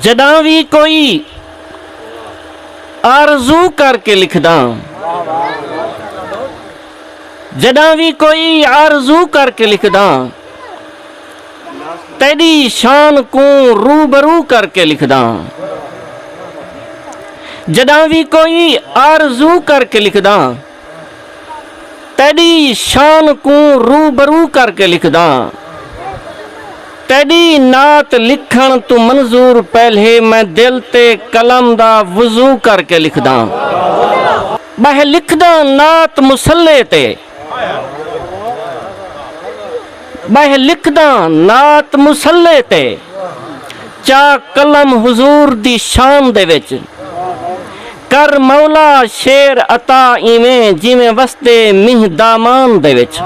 جݙاں وی کوئی آرزو کر کے لکھداں جݙاں وی کوئی آرزو کر کے لکھداں تیݙی شان کوں روبرو کر کے لکھداں جݙاں وی کوئی آرزو کر کے لکھداں تیݙی شان کوں روبرو کر کے لکھداں۔ تیݙی نعت لکھݨ توں منظور پہلے میں دل تے قلم دا وضو کر کے لکھداں۔ ٻہہ لکھداں نعت مصلے تے۔ ٻہہ لکھداں نعت مصلے تے۔ چا قلم حضور دی شان دے وچ۔ کر مولا شعر عطا ایویں جیویں وسدے مینہ دامان دے وچ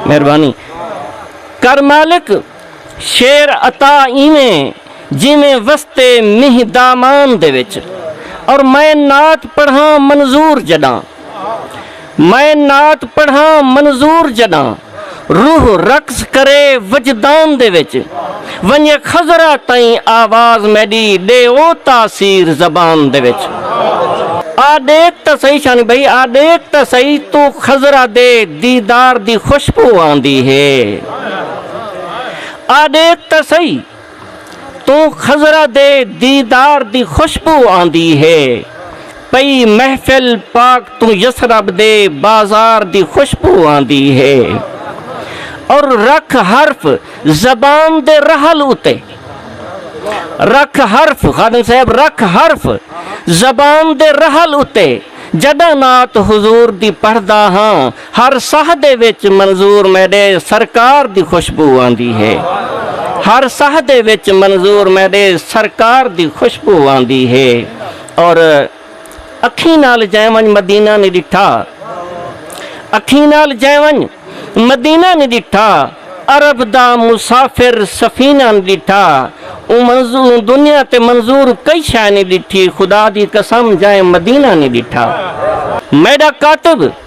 مہربانی کر مالک شعر عطا ایویں جیویں وسدے مینہ دامان دے وچ اور میں نعت پڑھاں منظور جڈاں۔ میں نعت پڑھاں منظور جݙاں روح رقص کرے وجدان دے وچ ونڄے خضرا تئیں آواز میݙی ݙے او تاثیر زبان دے وچ آ ݙیکھ تاں سہی شانی بھئی آ ݙیکھ تاں سہی توں خضرا دے دیدار دی خوشبو آندی ہے آ ݙیکھ تاں سہی۔ توں خضرہ دے دیدار دی خوشبو آندی ہے پئی محفل پاک توں یثرب دے بازار دی خوشبو آندی ہے اور رکھ حرف زبان دے رحل اتے رکھ حرف خادم صاحب رکھ حرف زبان دے رحل اتے جڈاں نعت حضور دی پڑھدا ہاں ہر ساہ دے وچ منظور میݙے سرکار دی خوشبو آندی ہے ہر ساہ دے وچ منظور میݙے سرکار دی خوشبو آندی ہے اور اکھیں نال جے ونج مدینہ نہیں ڈٹھا اکھیں نال جے ونج مدینہ نہیں ڈٹھا عرب دا مسافر سفینہ نہیں ڈٹھا اون منظور دنیا تے منظور کئی شے نہیں ڈٹھی خدا دی قسم جے مدینہ نہیں ڈٹھا میڈا کاتب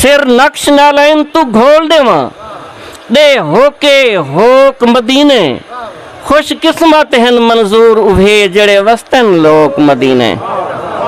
سر نقش نالین تو گھول ڈیواں ڈے ہوکے ہوک مدینے خوش قسمت ہن منظور اوہے جیڑھے وستن لوک مدینے۔